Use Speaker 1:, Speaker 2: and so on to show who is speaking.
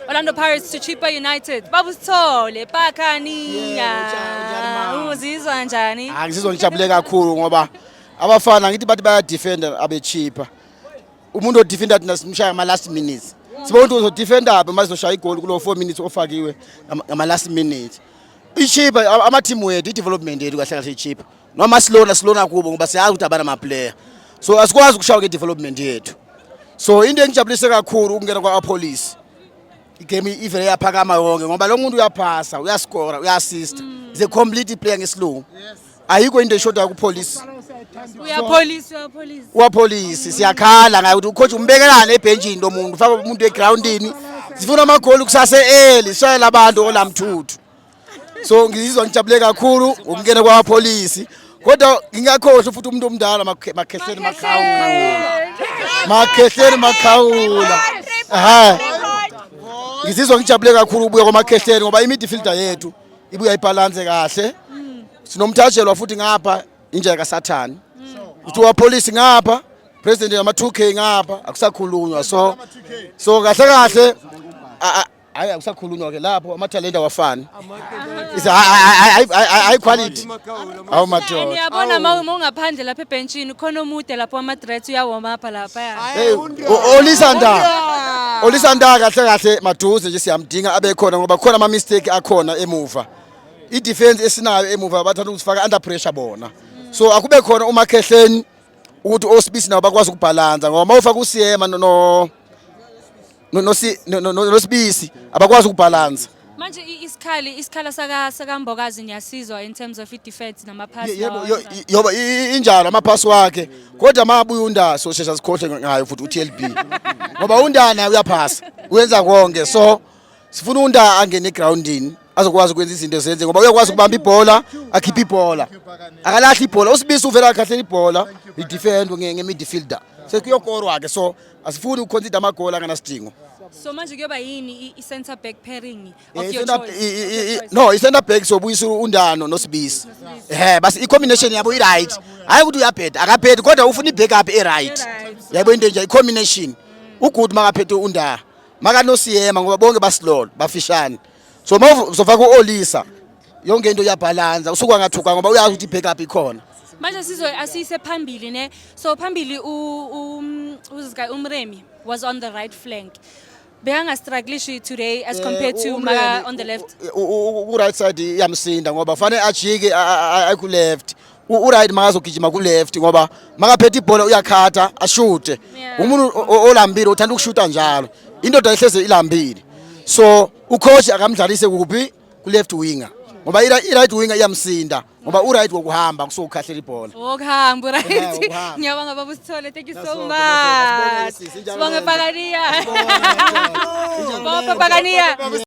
Speaker 1: Orlando Pirates to Chippa United. Babu Sithole, Pakaniya. Uzizwa njani? Ah, ngizizwa ngijabule kakhulu
Speaker 2: ngoba abafana ngithi bathi baya defender abe Chippa. Umuntu odefender thina simshaya ama last minutes. Sibona ukuthi uzodefender aphi uma sizoshaya igoli kulo 4 minutes ofakiwe ngama last minute. I-Chippa ama team wethu, i development yethu kahle kahle i-Chippa. noma silona silona kubo ngoba siyazi ukuthi abana maplayer so asikwazi ukushawa ngedevelopment yethu so into engijabulise kakhulu ukungena kwa-apolice igame ivele yaphakama yonke ngoba lo muntu uyaphasa uyaskora uyassista mm. is a complete player ngesilungu ayikho into eshodayo kupolice uyapolice siyakhala ngayo ukuthi ucoach umbekelane ebhentshini lo muntu ufake umuntu egroundini sifuna amagoli kusase eli shayela abantu olamthuthu so ngizizwa ngijabule kakhulu ukungena kwamapholisi kodwa ngingakhohlwa futhi umuntu omdala makhehleni makhawula makhehleni makhawula ha ngizizwa ngijabule kakhulu ubuya kwamakhehleni ngoba imidfielder yethu ibuya ibhalanse kahle sinomthajelwa futhi ngapha injeka kasathane uthi wapolisi ngapha president yama 2k ngapha akusakhulunywa so so kahle kahle hayi akusakhulunywa ke lapho amathalente awafani hayi quality awu madoda niyabona uma uma
Speaker 1: ungaphandle lapha ebhentshini khona omude lapho ama-dreads uyawoma apha lapha Hey, o- olisa nda
Speaker 2: olisa nda kahle kahle maduze nje siyamdinga abe khona ngoba khona ama mistake akhona emuva i defense esinayo emuva bathanda ukusifaka under pressure bona so akube khona umakhehleni ukuthi osibisi nabo bakwazi ukubhalansa ngoba uma ufaka usiyema no- no nosibisi abakwazi ukubhalansa manje isikhali
Speaker 1: isikhala saka sakambokazi ngiyasizwa in terms of i-defense nama-pass yoba
Speaker 2: injalo ama-pass wakhe kodwa uma abuye undana soshesha sikhohle ngayo futhi u-tlb ngoba undana uyaphasa uyenza konke so sifuna unda angene egroundini azokwazi ukwenza izinto zenze ngoba uyakwazi ukubamba ibhola akhiphe ibhola akalahli ibhola usibisi uvela akhahlela ibhola idefendwe nge-midfielder sekuyokorwa-ke so asifuni ukuconcede amagoli anganasidingo so manje kuyoba
Speaker 1: yini i-center back pairing of eh, your choice no i-center back
Speaker 2: sobuyisa undano nosibisi ehe basi i-combination yabo i-right hhayi ukuthi uyabheda akabhedi kodwa ufuna i-backup e-right yaybo into enje i-combination ugood makaphethe undaha makanosiyema ngoba bonke basilolo bafishane so ma uzofaka u-olisa yonke into iyabhalansa usuke angathuka ngoba uyazi ukuthi i-back up ikhona manje sizo
Speaker 1: asiyise phambili ne so phambili um, umremi was on the right flank bekangastrugglishi today as eh, compared to maka on the left ku-right side
Speaker 2: iyamsinda ngoba fanele ajike ayiku-left uright makazogijima ku-left ngoba makaphethe ibhola uyakhatha ashute umuntu olambile uthanda ukushuta njalo indoda ehleze ilambile so ucoach akamdlalise kuphi ku left winger ngoba i right winger iyamsinda ngoba u right wokuhamba kusuke ukhahlela ibhola wokuhamba u right
Speaker 1: ngiyabonga baba usithole thank you so much sibonge pakaniya baba pakaniya